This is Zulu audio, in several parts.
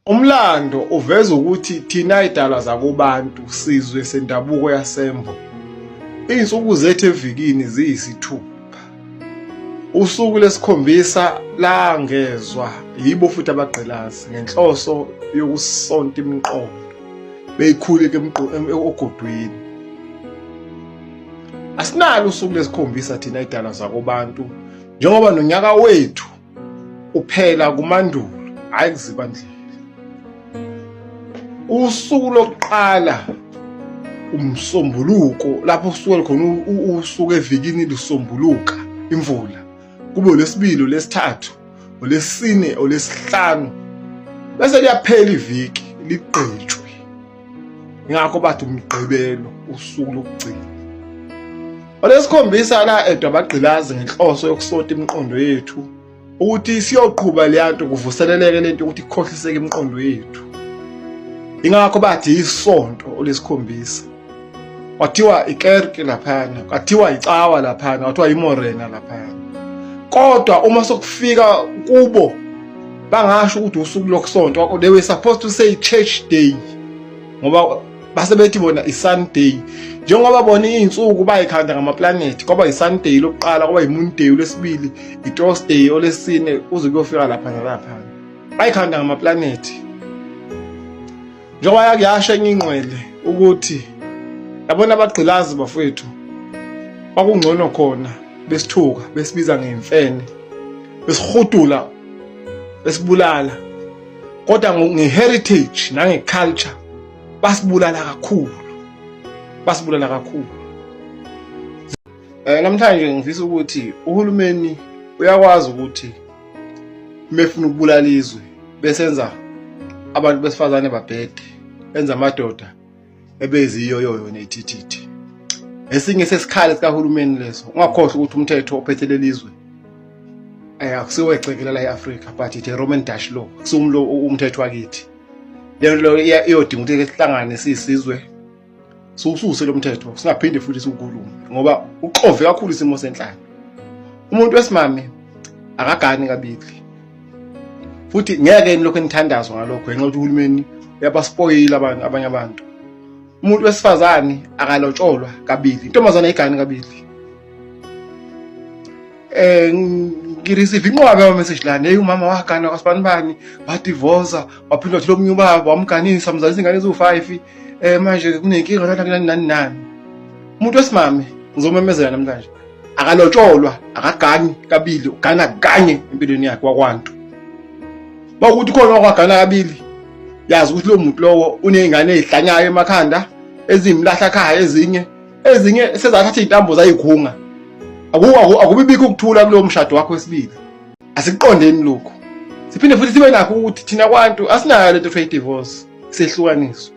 Umlando uveza ukuthi thina idalwa zakubantu sizwe sendabuko yasembo. Izinsuku zethu evikini ziyisithupha. Usuku lesikhombisa langezwa yibo futhi abagqilazi ngenhloso yokusonta imiqondo beyikhuleke ogodwini. Asinalo usuku lesikhombisa thina idalwa zakubantu njengoba nonyaka wethu uphela kumandulo hayi kuzibandlela usuku lokuqala umsombuluko lapho usuke khona usuke evikini lusombuluka imvula kube lesibili lesithathu olesine olesihlanu bese liyaphela iviki ligqitshwe ingakho bathi umgqibelo usuku lokugcina olesikhombisa la edwa abagqilazi ngenhloso yokusota imiqondo yethu ukuthi siyoqhuba leya nto kuvuseleleke lento ukuthi ikhohliseke imiqondo yethu ingakho bathi isonto olesikhombisa kwathiwa ikerke laphana kwathiwa icawa laphana kwathiwa imorena laphana kodwa uma sokufika kubo bangasho ukuthi usuku lokusonto they were supposed to say church day ngoba base bethi bona i-sunday njengoba bona iy'nsuku bayikhanda ngamaplanethi kwaba yi-sunday lokuqala kwaba yi-moonday olwesibili i-thursday olesine kuze kuyofika lapha nalapha bayikhanda ngamaplanethi njengoba yakuyasho enye ingqwele ukuthi yabona abagqilazi bafowethu kwakungcono khona besithuka besibiza ngemfene besihudula besibulala kodwa nge-heritage nange-culture basibulala kakhulu basibulala kakhulu um namhlanje ngifisa ukuthi uhulumeni uyakwazi ukuthi mefuna ukubulala izwe besenza abantu besifazane babhede benza amadoda ebeziyoyoyo nethithithi esinye sesikhali sikahulumeni leso ungakhohlwa ukuthi umthetho ophethe lelizwe eh akusiwe ecekela la eAfrika but the Roman Dutch law kusumlo umthetho wakithi leyo leyo iyodinga ukuthi sihlangane sisizwe siwususe lo mthetho singaphinde futhi siwukhulume ngoba uxove kakhulu isimo senhlalo umuntu wesimame akagani kabili futhi ngeke yini lokho enithandazwa ngalokho ngenxa ukuthi uhulumeni uyabaspoyila abantu abanye abantu umuntu wesifazane akalotsholwa kabili intombazane ayigani kabili eh ngireceive inqwabe yama message lana hey umama wagana kwasibani bani wadivoza waphinda wathi lomunye ubaba wamganisa mzalisa ingane eziwu-5 eh manje kunenkinga lana kunani nani nani umuntu wesimame ngizomemezela namhlanje akalotsholwa akaganyi kabili ugana kanye empilweni yakhe wakwantu uma ukuthi khona wakwagana kabili yazi ukuthi lo muntu lowo uney'ngane ey'hlanyayo emakhanda ezimlahla khaya ezinye ezinye sezathatha iy'ntambo zayikhunga akubibikho ukuthula kulowo mshado wakho wesibili asikuqondeni lokhu siphinde futhi sibe nakho ukuthi thina kwantu asinayo lento kuthiwa i-divorce sehlukaniswa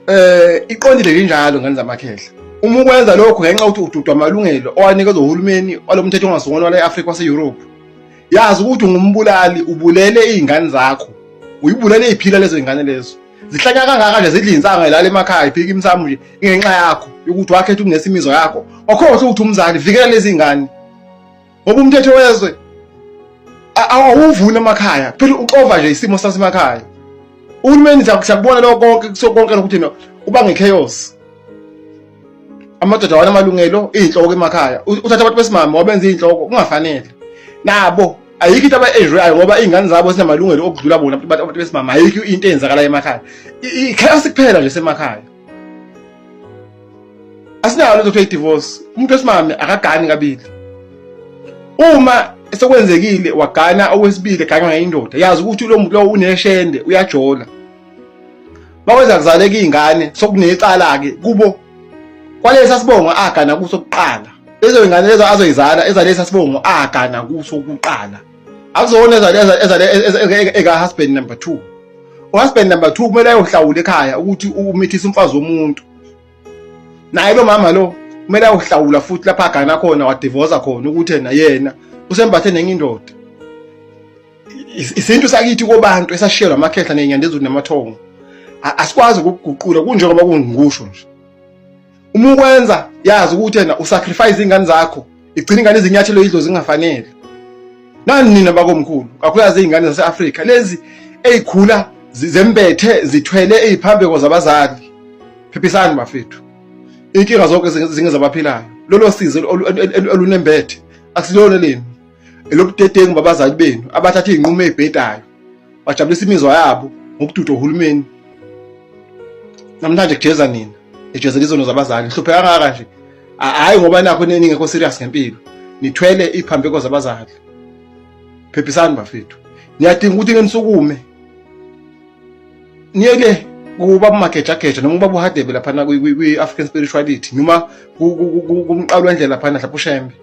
eh iqondile linjalo ngane zamakhehla uma ukwenza lokho ngenxa ukuthi ududwa amalungelo owanikezwa uhulumeni walomthetho ongasungulwa wale Africa wase Europe yazi ukuthi ungumbulali ubulele izingane zakho uyibulele iziphila lezo zingane lezo zihlanya kangaka nje zidla insanga ilala emakhaya iphika imsamo nje ingenxa yakho yokuthi wakhetha ukunesa imizwa yakho wakhohle ukuthi umzali vikela lezi ngane ngoba umthetho wezwe awuvuni emakhaya phela uxova nje isimo sasemakhaya uhulumeni sakubona lokho konke kusokonke lokuthi no uba ngechaos amadoda wanamalungelo izinhloko emakhaya uthatha abantu besimama wabenza izinhloko kungafanele nabo ayikho into aba-enjoyayo ngoba iy'ngane zabo zinamalungelo okudlula bona abantu besimama ayikho into eyenzakalayo emakhaya ikhasi kuphela nje semakhaya asinayo lento kuthiwa i-divorce umuntu wesimame akagani kabili uma sekwenzekile wagana owesibili eganywa ngayindoda yazi ukuthi lo muntu lowo uneshende uyajola bakwenza kuzaleka iy'ngane sokunecala-ke kubo kwalesi asibongo agana kuso kuqala lezo y'ngane lezo azoyizala ezalesi asibongo agana kuso kuqala akuzona eka-husband number two uhusband number two kumele ayohlawula ekhaya ukuthi umithisa umfazi womuntu naye lo mama lo kumele awuhlawula futhi lapha agana khona wadivoza khona ukuthi yena yena usembathe nenye indoda isintu sakithi kobantu esashiyelwa amakhehla nenyanda ezulu namathongo asikwazi ukuguqula kunjengoba kungikusho nje uma ukwenza yazi ukuthi yena usacrifice ingane zakho igcina ingane izinyathelo idlo zingafanele nani nina bakomkhulu kakhulukazi izingane zase-afrika lezi ezikhula zembethe zithwele iziphambeko zabazali phephisani bafethu inkinga zonke zinge zabaphilayo lolo sizo olunembethe asilona lenu elobudedengu babazali benu abathatha izinqumo ezibhedayo bajabulisa imizwa yabo ngokududwa uhulumeni namhlanje kujeza nina ejezela izono zabazali nihlupheka kangaka nje hhayi ngoba nakho ningekho serious ngempilo nithwele iy'phambeko zabazali phephisani bafethu niyadinga ukuthi ngenisukume niyeke kuba bumagejageja noma uba buhadebe laphana kwi-african spirituality noma kumqalo wendlela laphana mhlawumbe ushembe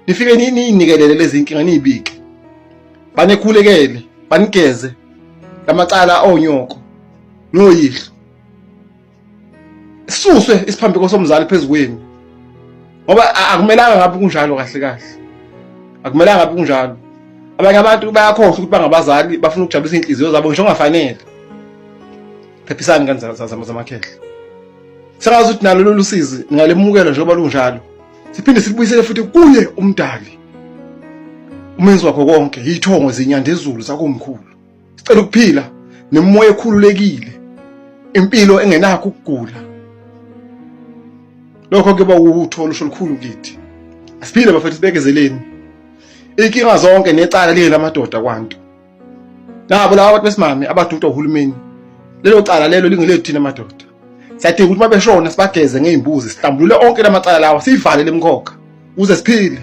nifike niyinikelele lezi nkinga niyibike banekhulekele banigeze lamacala onyoko noyihlo sisuswe isiphambeko somzali phezu kwenu ngoba akumelanga ngabe kunjalo kahle kahle akumelanga ngabe kunjalo abanye abantu bayakhohlwa ukuthi bangabazali bafuna ukujabulisa inhliziyo zabo ngisho ongafanele phephisani kanzazamakhehla sengazi ukuthi nalo lolu sizi ningalemukela njengoba lunjalo siphinde sikubuyisele futhi kuye umdali umenzi wakho konke yithongo zinyandezulu zakomkhulu sicela ukuphila nemoya ekhululekile impilo engenakho ukugula lokho kuba utho olusho olukhulu kithi asiphile bafethu sibekezeleni inkinga zonke necala liye lamadoda kwanto nabo laba abantu besimame abaduda uhulumeni lelo cala lelo lingelethu thina madoda siyadinga ukuthi mabeshona sibageze ngey'mbuzi sihlambulule onke la macala lawa siyivalele emkhokha ukuze siphile